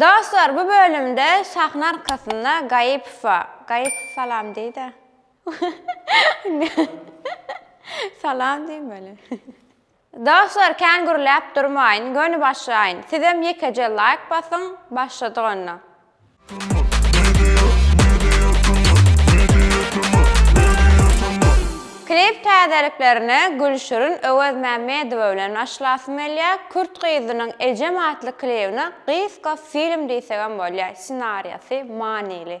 Dostlar bu bölümde sahna arkasynda Gaýypowa, Gaýypow salam diýdä. Salam diýmeli. Dostlar kän gürläp durmaýyn, göni başlaýyn. Sizem ýekeje laýk basyň, başladyk onda. Klip täzeliklerine Gülşirin Öwezmämmedowa bilen başlasym gelýä, Kürt gyzynyň Ejem atly klibine gysga film diýsegem bolýa, ssenariýasy manyly.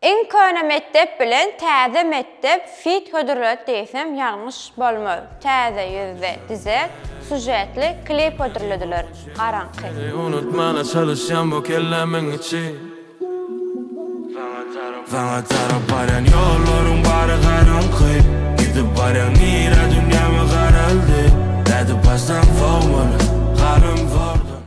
Iň köne mekdep bilen täze mekdep fit hödürledi diýsem ýalňyş bolmaz. Täze ýüzde dize sujetli klip hödürlediler. Garaňky. Unutmana çalyşýan bu kellämiň içi. Saňa tarap barýan ýollaryň bary garaňky. Gidip barýaň nirä dünýämi garaldy. Nädip barsaň sowmaly galym zordan.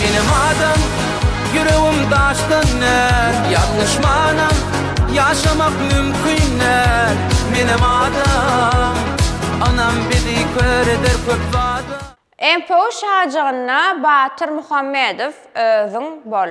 Menem adam, ýüregim daşdan däl, ýalňyşmanam, ýaşamak mümkin däl. Menem adam, anam bizi kör eder köp zada. MPU şajygynda Batyr Muhammedow özüň bol.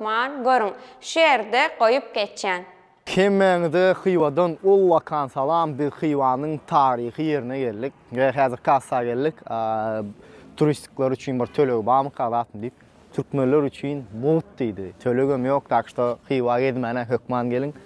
Bar, görüň, şu ýerde goýup geçýän. Hemmäňize Hywadan ullakan salam! Biz Hywanyň taryhy ýerine geldik we häzir kassa geldik. Turistikler üçin bir tölegi barmyka zatmy diýip, türkmenler üçin mugt diýdi. Tölegem ýok, tak şto Hywa gezmäne hökman geliň.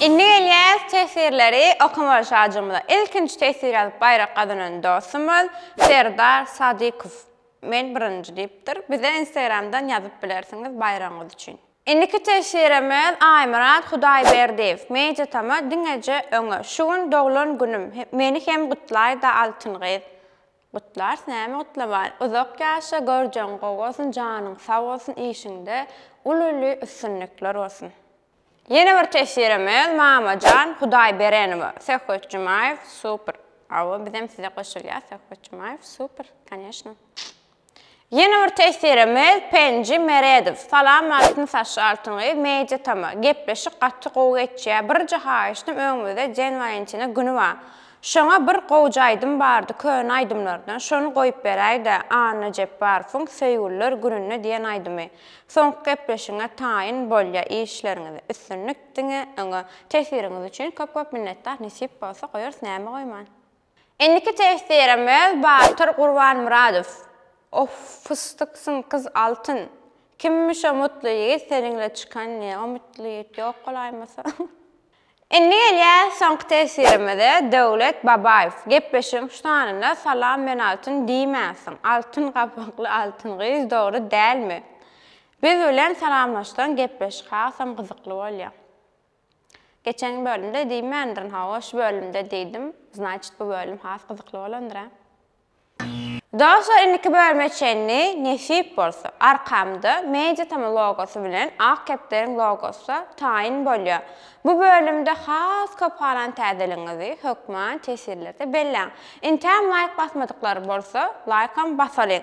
Indi gelýäs teswirleri okamaga şajygymyza. Ilkinji teswir ýazyp baýrak gazanan dostumyz Serdar Sadykow. Men birinji diýipdir. Bize Instagramdan ýazyp bilersiňiz baýragyňyz üçin. Indiki teswirimiz Aýmyrat Hudaýberdiýew Media Tama diňeje öňe Şu gün doglan günüm meni hem gutlaýda Altyn gyz Gutlarys näme gutlaman Uzak ýaşa görjegiň gowy bolsun janyň sag bolsun işiňde uly uly üstünlikler bolsun. Ýene bir teswirimiz Mamajan Hudaýberenowa Söhbet Jumaýew super Hawa bizem size goşulýas Söhbet Jumaýew super koneşno. Ýene bir tesirimiz Penji Meredow. Salam Altyn saçly Altyn gyz Media Tama. Gepleşik gaty gowy geçýä. Birje haýyştym öňümizde Jen Walentina güni ba. Şoňa bir gowja aýdym bardy köne aýdymlardan şony goýup beräýdä Anna Jepbarowyň Söýgüliler gününde diýen aýdymy. Soňky gepleşigiňe taýyn bolýa işleriňize üstünlik diňe öňe. Tesiriňiz üçin köp köp minnetdar nesip bolsa goýarys näme goýman. Indiki testirem öz Batyr Gurbanmyradow. Of fysdyksyň gyz altyn. Kimmi şo mutly ýigit seniňle çykan ne o mutly ýigit ýok bolaýmasa. Indi gelýäs soňky tesirimize Döwlet Babaýew gepleşigiň şu sanynda Salam men Altyn diýmänsiň Altyn gapakly Altyn gyz dogry dälmi? Biz bilen salamlaşsaň gepleşik hasam gyzykly bolýa. Geçen bölümde diýmändirin hawa şu bölümde diýdim znaçit bu bölüm has gyzykly bolandyr a. Dostlar indiki bölüme çenli nesip bolsa arkamda mediatm logosy bilen ak kepderiň logosy taýyn bolýar bu bölümde has köp halan täzeligiňizi hökman tesirlerde belläň intäm laýk basmadyklary bolsa laýkam basalyň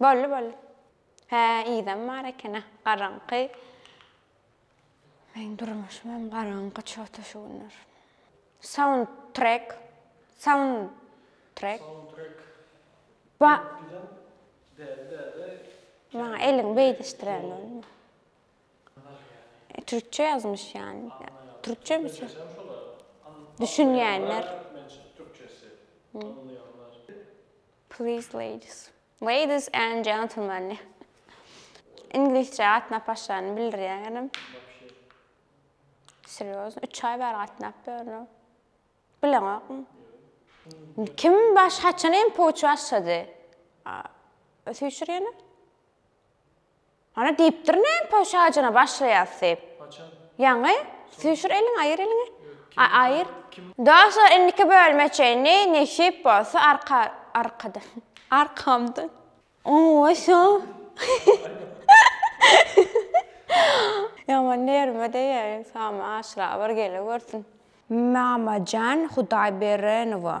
Boldy, boldy. Hä, yzam bar eken-ä, garaňky. Meň durmuşym hem garaňky çota şu günler. Soundtrack. Soundtrack. Soundtrack. Ba. Däli, däli. Maňa eliň beýdişdiren bolma. Türkçe ýazmyş ýany. Türkçe mi? Düşünýänler. Türkçesi. Anlaýanlar. Please ladies. Ladies and gentlemen. Iňlisçe gatnap başlanyny bildirýän ýerim. Serýozno, üç aý bäri gatnap ýörün. Bileňokmy? Kim baş haçan MPO üçin başlady? Süýşür ýene. Ana diýipdir näme pöwşajyna başlaýas diýip. Haçan? Ýaňy. Süýşür eliňi aýyr eliňi. Aý aýyr. Dostlar indiki bölüme çenli nesip bolsa arka arkada arkamdan. Oý şo. Ýaman nerwime deger ynsan aşyra bir gele görsün. Mamajan Hudaýberenowa.